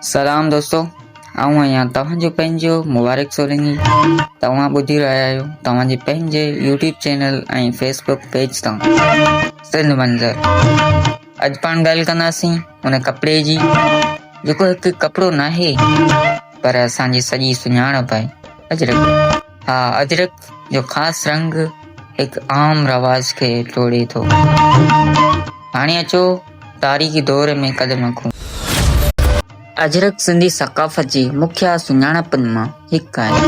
سلام دوستو آئون آهيان توهان جو پنهنجو مبارڪ سولنگي توهان ٻڌي رهيا آهيو توهان جي پنهنجي يوٽيوب چينل ۽ فيسبوڪ پيج تان سنڌ منظر اڄ پاڻ ڳالهه ڪنداسين ان ڪپڙي جي جيڪو هڪ ڪپڙو ناهي پر اسان جي سڄي سڃاڻپ آهي اجرڪ ها اجرڪ جو خاص رنگ هڪ عام رواج کي ٽوڙي ٿو هاڻي اچو تاريخي دور ۾ قدم رکون اجرڪ سنڌي ثقافت جي مکيه سڃاڻپن مان هڪ آهي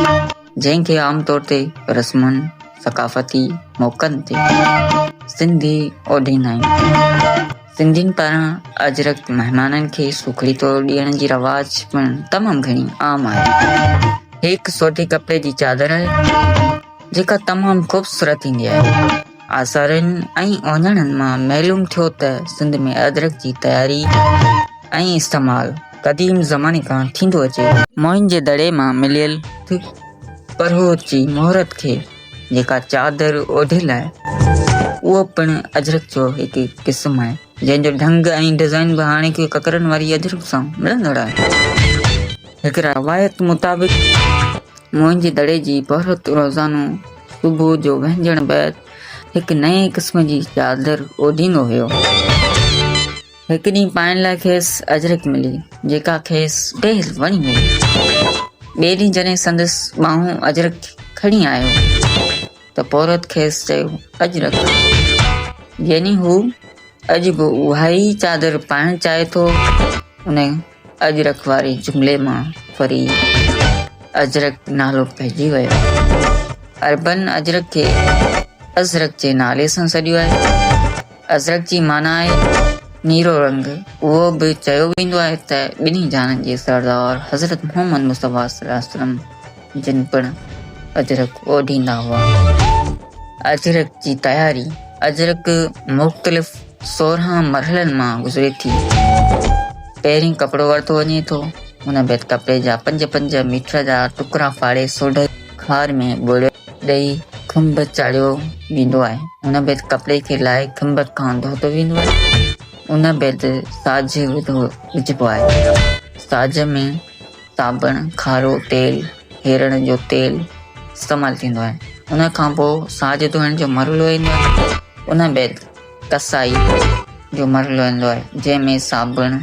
جنهن کي عام طور تي رسمن ثقافتي موقعن تي سنڌي اوڍيندا آهن سنڌين پاران اجرڪ مهمانن کي سوکڙي طور ڏيڻ جي رواج پڻ تمام گهڻي عام آهي. هي هڪ سوٽي ڪپڙي جي چادر آهي، جيڪا تمام خوبصورت ٿيندي آهي. آثارن ۽ اوهڃاڻن مان معلوم ٿيو ته سنڌ ۾ اجرڪ جي تياري ۽ استعمال قديم زماني کان ٿيندو اچي. موهن جي دڙي مان مليل پرهوت جي مهورت کي جيڪا چادر اوڍيل آهي، اهو پڻ اجرڪ جو هڪ قسم آهي، جنهن جو ڍنگ ۽ ڊزائين به هاڻيڪي ڪڪرن واري اجرڪ سان ملندڙ آهي. هڪ روايت مطابق موئن جي دڙي جي پورهيت روزانو صبح جو وهنجڻ بعد هڪ نئين قسم جي چادر اوڍيندو هيو. هڪ ڏينهن پائڻ لاء کيس اجرڪ ملي، جيڪا کيس ڊير وڻي هئي. ٻئي ڏينهن جڏهن سندس ٻانهون اجرڪ کڻي آيو ته پورهيت کيس چيو، اجرڪ! يعني هو اڄ به اهائي چادر پائڻ چاهي ٿو. ان اجرڪ واري جملي مان وري اجرڪ نالو پئجي ويو. عربن اجرڪ کي ازرق جي نالي سان سڏيو آهي. ازرق جي معنيٰ آهي نيرو رنگ. اهو به چيو ويندو آهي ته ٻنهي جهانن جي سردار حضرت محمد مصطفيٰ صلي الله عليه وسلم جن پڻ اجرڪ اوڍيندا هئا. اجرڪ جي تياري، اجرڪ مختلف سورهن مرحلن مان گذري ٿي. پهرين ڪپڙو ورتو وڃي ٿو، ان بعد ڪپڙي جا پنج پنج ميٽر جا ٽڪرا ڦاڙي سوڍي خار ۾ ٻوڙ ڏئي کنڀ چاڙهيو ويندو آهي، ان بعد ڪپڙي کي لاهي کنڀ کان ڌوتو ويندو آهي، ان بعد ساڄ وڌو وجهبو آهي، ساڄ ۾ صابڻ، کارو تيل، هيرڙن جو تيل استعمال ٿيندو آهي. ان کان پوء ساڄ ڌوئڻ جو مرحلو ايندو آهي. ان بعد ڪسائي جو مرحلو ايندو آهي، جنهن ۾ صابڻ،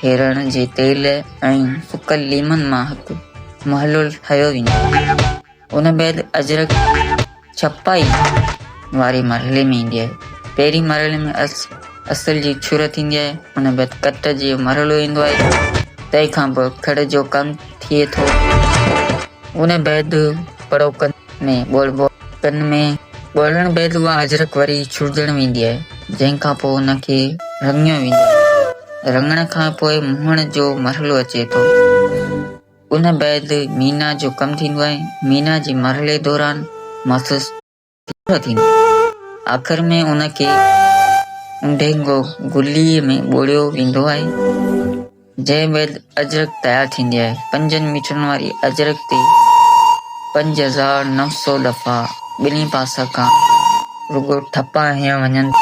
هيرڙن جي تيل ۽ سڪل ليمن مان هڪ محلول ٺاهيو ويندو آهي. ان بعد اجرڪ ڇپائي واري مرحلي ۾ ايندي آهي پهرين مرحلي ۾ اصل جي ڇر ٿيندي آهي ان بعد ڪٽ جي مرحلو ايندو آهي تنهن کان پوء کڙ جو ڪم ٿئي ٿو ان بعد پڙو ڪن ۾ ڳولبو ڪن ۾ ڳولڻ بعد اها اجرڪ وري ڇڙجڻ ويندي آهي جنهن کان پوء ان کي رڱيو ويندو آهي رڱڻ کان پوء مهڻ جو مرحلو اچي ٿو ان بعد مينا جو ڪم ٿيندو آهي، مينا جي مرحلي دوران مٿس ٿر ٿيندو آهي، آخر ۾ ان کي اونڍينگو گلي ۾ ٻوڙيو ويندو آهي، جنهن بعد اجرڪ تيار ٿيندي آهي، پنجن ميٽرن واري اجرڪ تي پنج هزار نو سؤ دفعا ٻنهي پاسن کان رڳو ٺپا هنيا وڃن ٿا.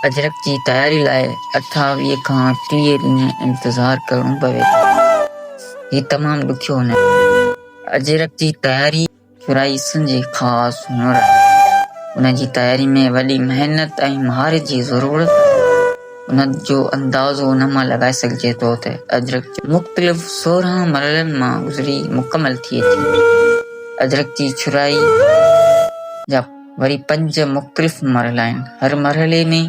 اجرڪ جي تياري لاء اٺاويهه کان ٽيهه ڏينهن انتظار ڪرڻو پوي ٿو. هي تمام ڏکيو نه آهي. اجرڪ جي تياري شورائسين جي خاص هنر آهي. ان جي تياري ۾ وڏي محنت ۽ مهارت جي ضرورت آهي. ان جو اندازو ان مان لڳائي سگهجي ٿو ته اجرڪ مختلف سورهن مرحلن مان گذري مڪمل ٿئي ٿي. اجرڪ جي شورائي جا. وري پنج مختلف مرحلا آهن، هر مرحلي ۾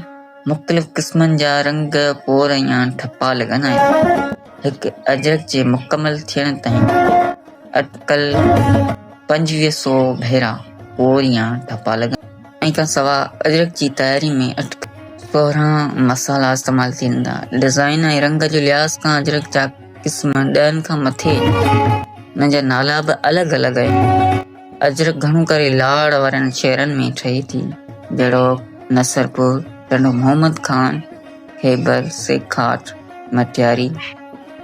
مختلف قسمن جا رنگ، پور ۽ ٺپا لڳندا آهن. هڪ اجرڪ جي مڪمل ٿيڻ تائين اٽڪل پنجويهه سئو ڀيرا پور يا ٺپا لڳندا آهن. ان کان سواء اجرڪ جي تياري ۾ اٽڪل سورهن مصالحا استعمال ٿيندا. ڊزائين ۽ رنگ جي لحاظ کان اجرڪ جا قسم ڏهن کان مٿي آهن. انهن جا نالا به الڳ الڳ آهن. اجرڪ گهڻو ڪري لاڙ وارن شهرن ۾ ٺهي ٿي، جهڙوڪ، نصرپور، ٽنڊو محمد خان، خيبر، سيکاٽ، مٽياري،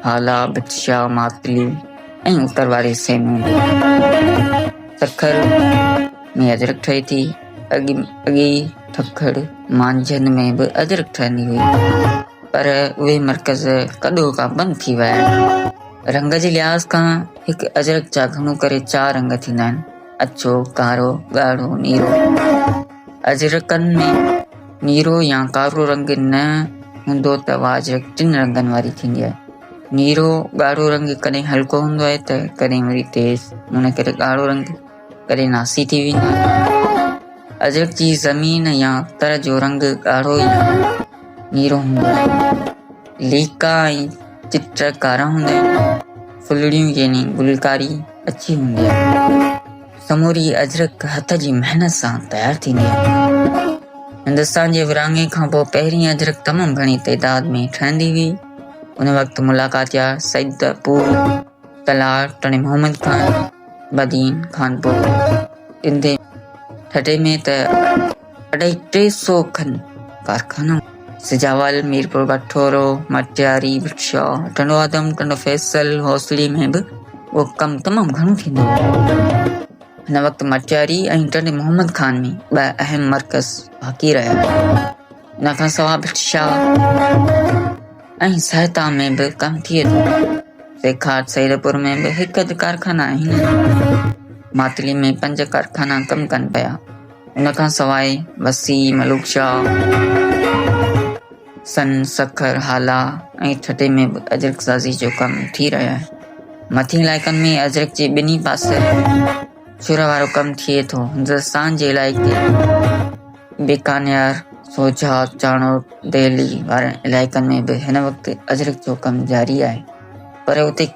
هالا، بٽشاهه، ماتلي ۽ اتر واري حصي ۾ سکر ۾ اجرڪ ٺهي ٿي. اڳي ٺڪڙ، مانجهند ۾ به اجرڪ ٺهندي هئي، پر اهي مرڪز ڪڏهوڪا بند ٿي ويا آهن. رنگ جي لحاظ کان هڪ اجرڪ جا گهڻو ڪري چار رنگ ٿيندا آهن، اڇو، ڪارو، ڳاڙهو، نيرو. اجرڪن ۾ نيرو يا ڪارو رنگ نه هوندو ته اها اجرڪ ٽن رنگن واري ٿيندي آهي. نيرو ڳاڙهو رنگ ڪڏهن هلڪو هوندو آهي ته ڪڏهن وري تيز، ان ڪري ڳاڙهو رنگ ڪڏهن ناسي ٿي ويندي آهي. اجرڪ جي زمين يا تر جو رنگ ڳاڙهو يا نيرو هوندو آهي. ليڪا ۽ چٽ ڪارا هوندا آهن. ڦلڙيون يعني گلڪاري اڇي هوندي آهي. سموري اجرڪ هٿ جي محنت سان تيار ٿيندي آهي. هندستان جي ورهاڱي کانپوء پهرين اجرڪ تمام گهڻي تعداد ۾ ٺهندي هئي. ان وقت ملاڪات يا سيدپور تلار، ٽڻي محمد خان، بدين، خانپور، ٽنڊي، ٺٽي ۾ ته اڍائي ٽي سؤ کن ڪارخانا، سجاول، ميرپور بٺورو، مٽياري، بخشا، ٽنڊو آدم، ٽنڊو فيصل، حوصلي ۾ به اهو ڪم تمام گهڻو ٿيندو هو. هن وقت مٽياري ۽ ٽنڊي محمد خان ۾ ٻه اهم مرڪز باقي رهيا. ان کان سواء ڀٽ شاهه ۽ سهتا ۾ به ڪم ٿئي ٿو. سيکار سيدپور ۾ به هڪ اڌ ڪارخانا آهن. ماتلي ۾ پنج ڪارخانا ڪم ڪن پيا. ان کان سواء وسي، ملوڪ شاهه، سن، سکر، هالا ۽ ٺٽي ۾ به اجرڪ سازي جو ڪم ٿي رهيو آهي. مٿين علائقن ۾ اجرڪ جي ٻنهي پاسي ڇر وارو ڪم ٿئي ٿو. هندستان جي علائقي بيڪانير، سوجهات، چانوٽ، دهلي وارن علائقن ۾ به هن وقت اجرڪ جو ڪم جاري آهي پر اتي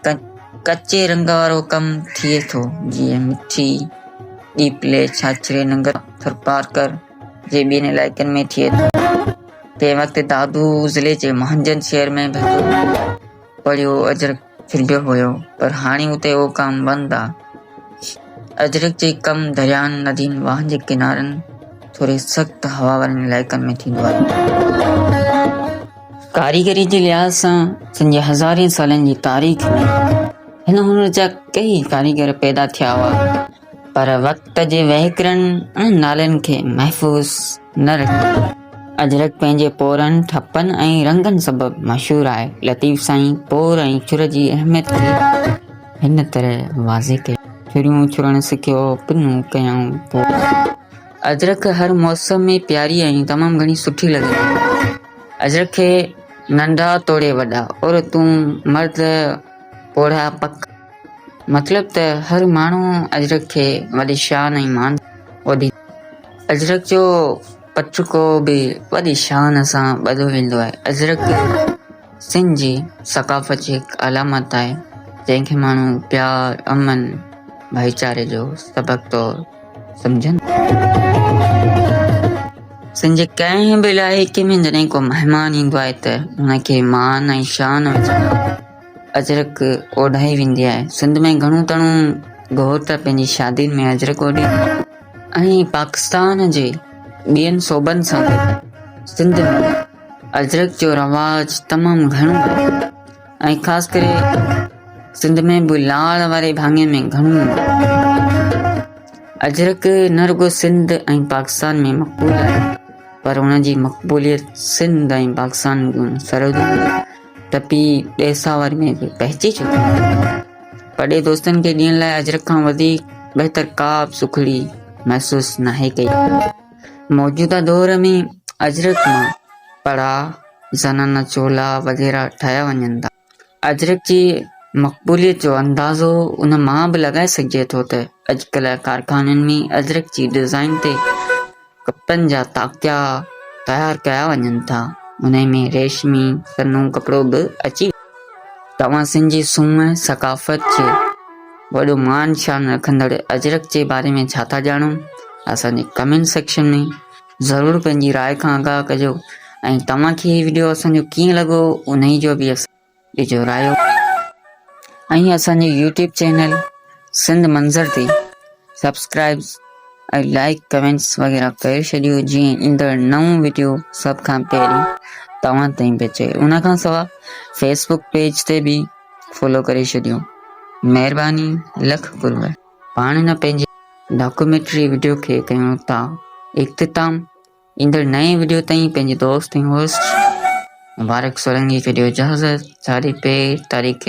ڪچي رنگ وارو ڪم ٿئي ٿو جيئن مٺي، ڏيپلي، ڇاڇري، ننگر، ٿرپارڪر جي ٻين علائقن ۾ ٿئي ٿو. تنهن وقت دادو ضلعي جي مهانجن شهر ۾ به هڪ پڙهيو اجرڪ ڇڏيو هيو پر هاڻي اتي اهو ڪم بند آ. اجرڪ جي ڪم درياهن، ندين، واهن جي ڪنارن ٿوري سخت هوا وارن علائقن ۾ ٿيندو آهي. ڪاريگري جي لحاظ سان سنڌ جي هزارين سالن جي تاريخ ۾ هن هنر جا ڪيئي ڪاريگر پيدا ٿيا هئا. پر وقت جي وهڪرن ۽ نالين کي محفوظ نه رکيو. اجرڪ پنهنجي پورن، ٺپن ۽ رنگن سبب مشهور آهي. لطيف سائين پور ۽ ڇر جي اهميت کي هن طرح واضح ڪيو. ڇريون ڇرڻ سکيو، پنون ڪيائون پور. اجرڪ هر موسم ۾ پياري ۽ تمام گهڻي سٺي لڳندي آهي. اجرڪ کي ننڍا توڙي وڏا، عورتون، مرد، پوڙها پڪ. مطلب ته هر ماڻهو اجرڪ کي وڏي شان ۽ مان سان ٻڌي ٿو. اجرڪ جو پترڪو به وڏي شان سان ٻڌو ويندو آهي. اجرڪ سنڌ جي ثقافت جي هڪ علامت آهي، جنهن کي ماڻهو پيار، امن، ڀائيچاري جو سبق طور. سمجهن سنڌ جي ڪنهن به علائقي ۾ جڏهن ڪو مهمان ايندو آهي ته ان کي مان ۽ شان اجرڪ اوڍائي ويندي آهي سنڌ ۾ گهڻو تڻو گهوٽ پنهنجي شادين ۾ اجرڪ اوڍي ۽ پاڪستان جي ٻين صوبن سان سنڌ ۾ اجرڪ جو رواج تمام گهڻو آهي ۽ خاص ڪري سنڌ ۾ به لاڙ واري ڀاڱي ۾ گهڻو اجرڪ نه رڳو سنڌ ۽ پاڪستان ۾ مقبول آهي پر ان جي مقبوليت سنڌ ۽ پاڪستان جون سرحدون ٽپي ڏيساور ۾ به پهچي چڪي آهي پرڏي دوستن کي ڏيڻ لاء اجرڪ کان وڌيڪ بهتر ڪا به سکڙي محسوس ناهي ڪئي موجوده دور ۾ اجرڪ مان پڙا زنانه چولا وغيره ٺاهيا وڃن ٿا. اجرڪ جي مقبوليت جو اندازو ان مان به لڳائي سگهجي ٿو ته اڄڪلهه ڪارخانن ۾ اجرڪ جي ڊزائين تي ڪپڙن جا تاڪيا تيار ڪيا وڃن ٿا، انهي ۾ ريشمي سنهو ڪپڙو به اچي ويندو. توهان سنڌ جي سونهن ۽ ثقافت جي وڏو مان شان رکندڙ اجرڪ جي باري ۾ ڇا ٿا ڄاڻو؟ اسان جي ڪمينٽ سيڪشن ۾ ضرور پنهنجي راء کان آگاهه ڪجو ۽ توهان کي هي وڊيو اسان جو ڪيئن لڳو انهي جو به اسان ڏجو رايو ۽ اسان جي يوٽيوب چينل سنڌ منظر تي سبسڪرائبس ۽ لائڪ ڪمينٽس وغيره ڪري ڇڏيو جيئن ايندڙ نئون وڊيو سڀ کان پهرين توهان تائين پهچي ان کان سوا فيسبوڪ پيج تي به فالو ڪري ڇڏيو مهرباني لک قرب پاڻ نه پنهنجي ڊاڪيومينٽري وڊيو کي ڪيون ٿا اختتام، ايندڙ نئين وڊيو تائين پنهنجي دوست ۽ هوسٽ مبارڪ سولنگي کي ڏيو اجازت، جاري پي تاريخ.